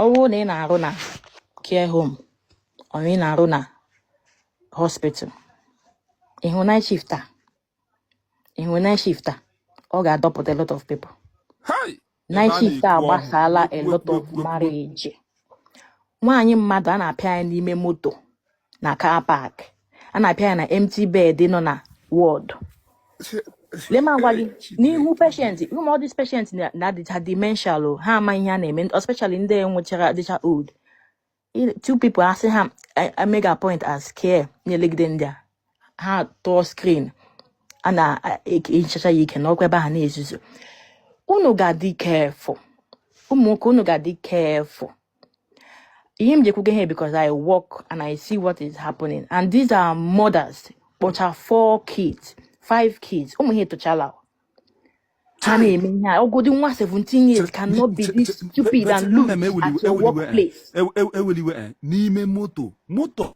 ọ wụrụ na ị na-arụ na care home or ị na-arụ na hospital ị hụ night shift a ị hụ night shift a ọ ga-adọpụta a lot of people night shift a gbasaala a lot of marriage nwaanyị mmadụ a na-apịa ya n'ime moto na car park a na-apịa ya na empty bed nọ na ward lee m agwa gị n'ihu patient ụmụ ọ dis patient na- na-adịcha dementia o ha ama ihe a na-eme especially ndị nwechara adịcha old I- two people asị ha I- I make appoint as care na-elegide ndị a ha tụọ screen a na-ehichacha ya ike nọkwa ebe ha na-ezuzu unu ga-adị careful ụmụ nwoke unu ga-adị careful ihe m ji ekwuga ihe a because I work and I see what is happening and these are mothers kpọcha four kids five kids ụmụ ha etochaala ha na-eme ihe a ọ wụdị nwa 17 years cannot be this stupid and loose at your workplace eweliwe eh, n'ime moto moto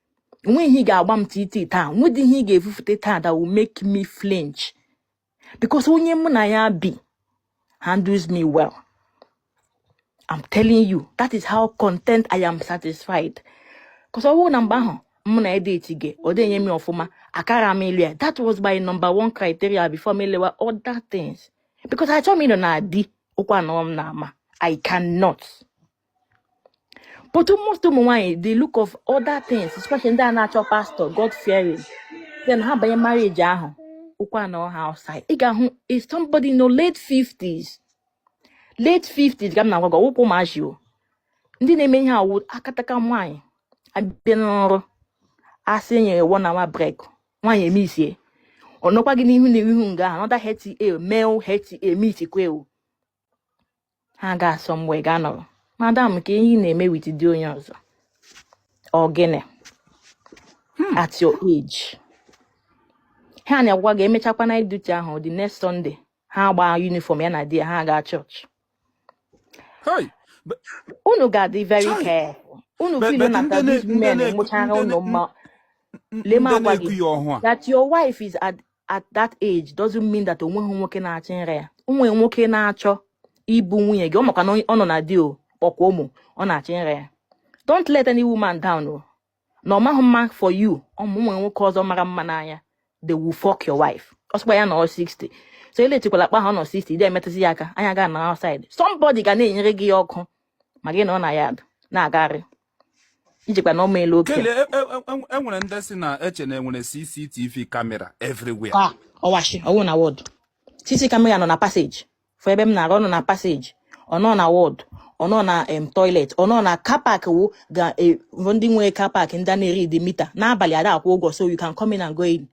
nweghị ihe ị ga-agba m titi taa nwedị ihe ị ga-efufute taa that will make me flinch because onye mụ na ya bi handles me well I'm telling you that is how content I am satisfied because ọ bụrụ na mgbe ahụ mụ na-edeti ya ọ dịnye m ọfụma akara m ịlụ ya that was my number one criteria before m elewa other things because achọghị m ịnọ na di ụkwụ anọrọ m n'ama I cannot but most ụmụ nwaanyị they look for other things especially ndị a na-achọ pastọ god fearing then ha banye marriage ahụ ụkwụ anọ ha outside ị ga-ahụ somebody nọ late 50s late 50s ka m na-agwa gị ọ wụkwa ụmụazị o ndị na-eme ihe a wụ akataka nwaanyị abịa n'ọrụ a sị e nyere one hour break nwaanyị emisie ọ nọkwa gị n'ihu na ihu nga anọda hta mel hta mitikwa ewu ha agaa somewhere ga-anọrọ madam kee ihe ị na-eme with di onye ọzọ ọ gịnị hmm. at your age ha na-agwa gị emechakwa night duty ahụ the next Sunday ha gbaa uniform ya na di ya ha gaa chọọchị unu ga-adị very careful unu feel na these men enwechara unu mma lee m agwa gị that your wife is at at that age doesn't mean that o nweghị nwoke na-achọ ịra ya o nwe nwoke na-achọ ibu nwunye gị ọ makwa na ọ nọ na di o kpọkwa ụmụ ọ na-achọ ịra ya don't let any woman down o na ọ maghị mma for you o nwee nwoke ọzọ ọ mara mma n'anya they will fuck your wife ọ sịkwa ya nọ 60 so elechikwala akpa ha nọ 60 ị dịghị emetụzi ya aka anya ga na outside somebody ga na-enyere gị ya ọkụ ị maghị na ọ na ya na-agagharị njikwa na ọma elu oke Kele, e- e- e- e nwere ndị si na-eche na enwere CCTV camera everywhere. ka ọwashi ọ wụ na ward cc camera nọ na passage for ebe m na-arụ ọ nọ na passage ọ nọ na ward ọ nọ na em toilet ọ nọ na car park wụ ga e- bụ ndị nwe car park ndị a na-eread meter n'abalị ada akwụ ụgwọ so you can come in and go in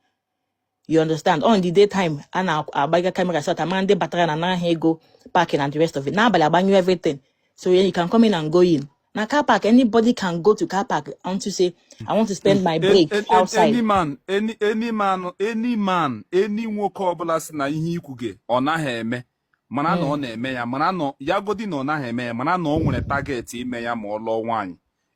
you understand on the daytime a na-agbaga camera so that a maa ndị batara na nara ha ego parking and the rest of it n'abalị agbanyụ everything so yeah, you can come in and go in na car park anybody can go to car park unto say i want to spend my break outside any man any any man any man any nwoke ọbụla sị na ihe i kwuga ọ naghị eme mara na ọ hmm. na-eme ya mara na ya godi na ọ naghị eme ya mara na ọ nwere target ime ya ma ọ lụọ nwaanyị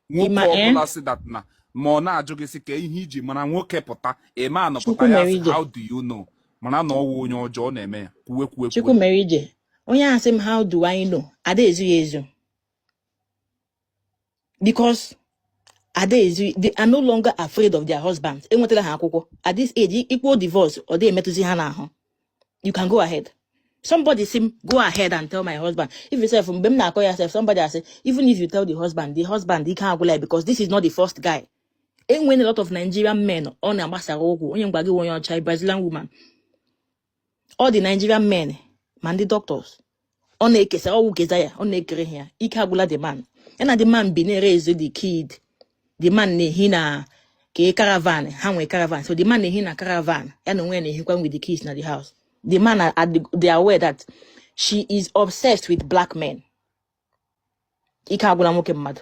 nwoke ọbụla eh? sị that na ma ọ na-ajụ gị sị ka ihe i ji mara nwoke pụta eme anọpụta ya sị how do you know mara na ọwụ onye ọjọọ ọ na-eme ya kwuwe kwuwe kwuwe onye ahụ sị m how do I know ada ezo ya ezo because nowadays they are no longer afraid of their husbands enwetala ha akwụkwọ at this stage i kwuo divorce ọ dịghị emetụzi ha n'ahụ you can go ahead somebody say go ahead and tell my husband if you self mgbe m na-akọ ya self somebody say even if you tell the husband the husband ike agwụla because this is not the first guy enwere a lot of Nigerian men ọ na-agbasara ụkwụ onye mgba gị onye ọcha Brazilian woman all the Nigerian men ma ndị doctors ọ na-ekesara ọ wụ keza ya ọ na-ekere ya ike agwụla the man ya na the man bi na-eraise the kid the man na-ehi na ka e caravan ha nwee caravan so the man na-ehi na caravan ya na onwe ya na-ehikwa with the kids na the house the man they are aware that she is obsessed with black men ike agwụla nwoke mmadụ